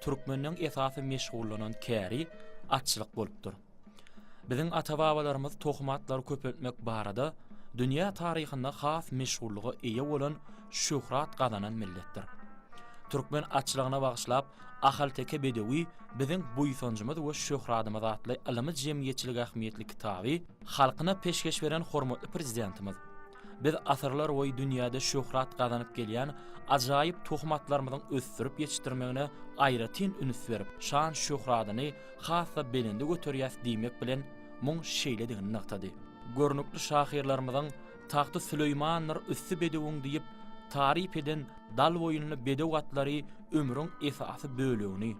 Türkmeniň esasy meşgullanan käri atçylyk bolupdyr. Biziň ata-babalarymyz tohum atlary köpeltmek barada dünýä taryhynda has meşhurlyga eýe bolan şöhrat gazanan milletdir. Türkmen atçylygyna bagyşlap Ahalteke bedewi biziň buýsanjymyz we şöhradymyz atly ylymy-jemgyýetçilik ähmiýetli kitaby halkyna peşgeş beren hormatly Prezidentimiz Biz asyrlarboýy dünýäde şöhrat gazanyp gelýän ajaýyp tohumatlarymyzyň ösdürip ýetişdirmegine aýratyn üns berip, şan-şöhratyny has-da belende göterýäs diýmek bilen, muň şeýledigini nygtady. Görnükli şahyrlarymyzyň Tagty Süleýmandyr üsti bedewiň diýip, taryp eden Dalboýunly bedew atlary ömrüň esasy bölegini,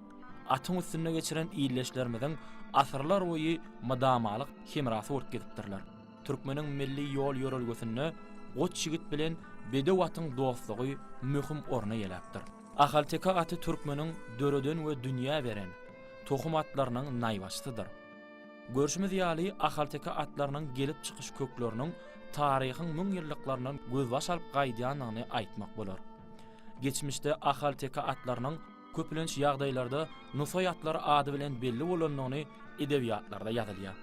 atyň üstünde geçiren ildeşlerimiziň asyrlarboýy mydamalyk hemrasy bolup gezipdirler. Türkmeniň milli ýol-ýörelgesinde goç ýigit bilen bedew atyň dostlugy möhüm orun eýeläpdir. Ahalteke aty türkmeniň döreden we dünýä beren tohum atlarynyň naýbaşysydyr. Görşümiz ýaly, ahalteke atlarynyň gelip çykyş kökleriniň taryhyň müňýyllyklaryndan gözbaş alyp gaýdýandygyny aýtmak bolar. Geçmişde ahalteke atlarynyň. Köplenç ýagdaýlarda Nusaý atlary ady bilen belli bolandygyny edebiýatlarda ýazylýar.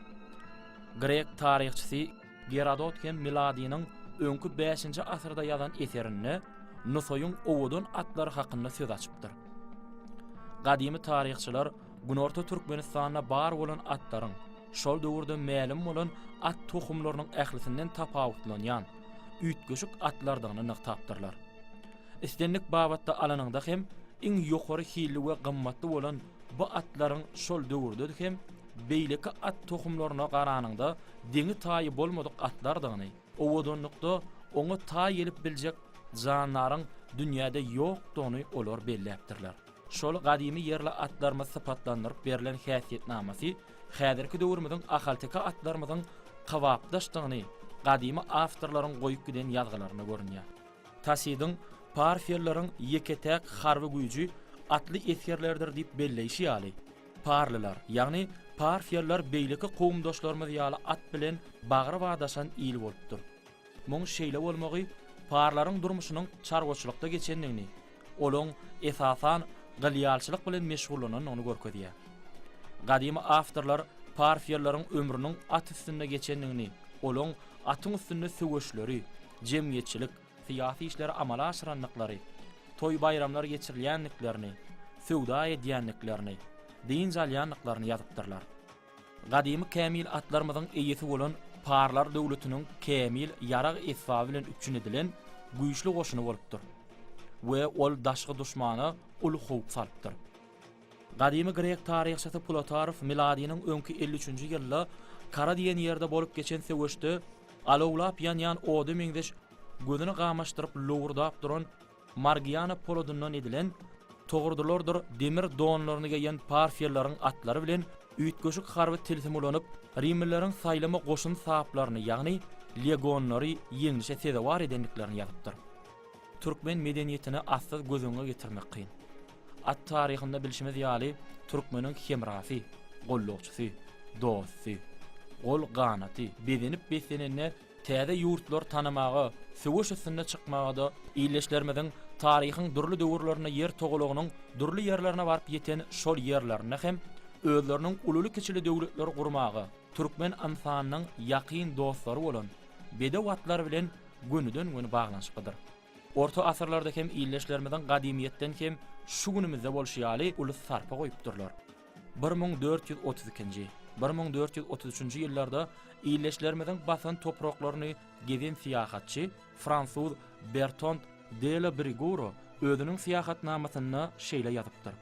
Grek taryhçysy Gerodot hem miladynyň öňki bäşinji asyrda ýazan eserinde Nusaýyň owadan atlary hakynda söz açypdyr. Gadymy taryhçylar Günorta Türkmenistanda bar bolan atlaryň, şol döwürde mälim bolan at tohumlarynyň ählisinden tapawutlanýan, üýtgeşik atlardygyny nygtapdyrlar. Islendik babatda alanyňda hem iň ýokary hilli we gymmatly bolan bu atlaryň şol döwürde hem beýleki at tohumlaryna garanyňda deňi-taýy bolmadyk atlardygyny, owadanlykda oňa taý gelip biljek jandaryň dünýäde ýokdugyny olar belläpdirler. Şol gadymy ýerli atlarymyz sypatlandyryp berlen häsiýetnamasy häzirki döwrümiziň ahalteke atlarymyzyň kybapdaşdygyny gadymy awtorlaryň goýup giden ýazgylarynda görünýär. Tasidiň parfiýalylaryň ýeke-täk harby güýji atly esgerlerdir diýip belleýşi ýaly, parlylar, ýagny parfiýalylar beýleki kowumdaşlarymyz ýaly at bilen bagry badaşan il bolupdyr. Muň şeýle bolmagy parlaryň durmuşynyň çarwaçylykda geçendigini, olaň, esasan, gylýalçylyk bilen meşgullanandygyny görkezýär. Gadymy awtorlar parfiýalylaryň ömrüniň at üstünde geçendigini, olaň atyň üstünde söweşleri, jemgyýetçilik, syýasy işleri amala aşyrandyklary, toý-baýramlar geçirilýändiklerini, söwda edýändiklerini, dynç alýandyklaryny ýazypdyrlar. Gadymy kämil atlarymyzyň eýesi bolan parlar döwletiniň kämil ýarag esbaby bilen üpjün edilen güýçli goşuny bolupdyr we ol daşky duşmana uly howp salypdyr. Gadymy grek taryhçysy Plutarf miladynyň öňki elli üçünji ýylda Kara diýen ýerde bolup geçen söweşde alawlap ýanýan oda meňzeş gözüni gamaşdyryp lowurdap duran Margiana poladyndan edilen togurdylardyr demir donlaryny geýen parfiýalylaryň atlary bilen üýtgeşik harby tilsim ulanyp rimlileriň saýlama goşun saplaryny ýagny legonlary ýeňlişe sezewar edendiklerini ýazypdyr. Türkmen medeniýetini atsyz göz öňüňe getirmek kyn. At taryhynda bilşimiz ýaly, türkmeniň hemrasy, gollagçysy, dosty, gol-ganaty, bezenip-beslenende täze ýurtlary tanamaga, söweş üstünde çykmaga-da, ildeşlerimiziň taryhyň dürli döwürlerinde ýer togalagynyň dürli ýerlerine baryp ýeten şol ýerlerinde hem özleriniň ululy-kiçili döwletleri gurmaga, türkmen ynsanynyň ýakyn dostlary bolan bedew atlar bilen gönüden-göni baglanyşyklydyr. Orta asyrlarda hem ildeşlerimiziň gadymyýetden hem şu günümizde bolşy ýaly uly sarpa goýupdyrlar. Bir müň dört ýüz otuz ikinji, bir müň dört ýüz otuz üçünji ýyllarda ildeşlerimiziň basan topraklaryny gezen syýahatçy fransuz Bertond de la Briguro özüniň syýahatnamasynda şeýle ýazypdyr,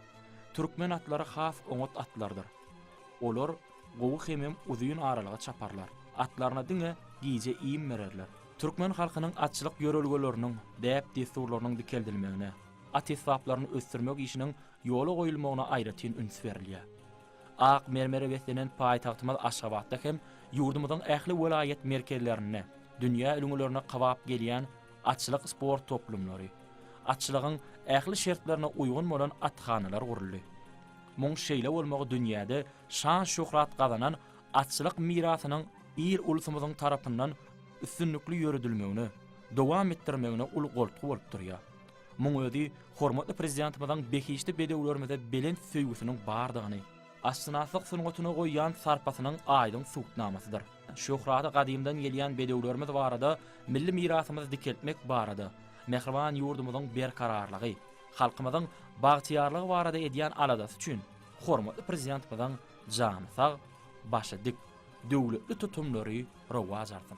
Türkmen atlary has oňat atlardyr. Olar Gowy hemem uzyn aralyga çaparlar. Atlaryna diňe gije iým bererler. Türkmen halkynyň atçylyk ýörelgeleriniň, däp-dessurlarynyň dikeldilmegine, at esbaplaryny ösdürmek işiniň ýola goýulmagyna aýratyn üns berilýär. Ak mermere beslenen paýtagtymyz Aşgabatda hem ýurdumyzyň ähli welaýat merkezlerinde dünýä ülňülerine kabap gelýän atçylyk sport toplumlary, atçylygyň ähli şertlerine uýgun bolan athanalar guruldy. Muň şeýle bolmagy dünýäde şan-şöhrat gazanan atçylyk mirasynyň il-ulsumyzyň tarapyndan üstünlikli ýöredilmegine, dowam etdirmegine uly goltgy bolup durýar. Muň özi hormatly Prezidentimiziň behişdi bedewlerimize belent söýgüsiniň bardygyny, atşynaslyk sungatyna goýýan sarpasynyň aýdyň subutnamasydyr. Şöhraty gadymdan gelýän bedewlerimiz barada, milli mirasymyzy dikeltmek barada, mähriban ýurdumyzyň berkararlygy, halkymyzyň bagtyýarlygy barada edýän aladasy üçin, Hormatly Prezidentimiziň jany sag, başy dik, döwletli tutumlary rowaç alsyn!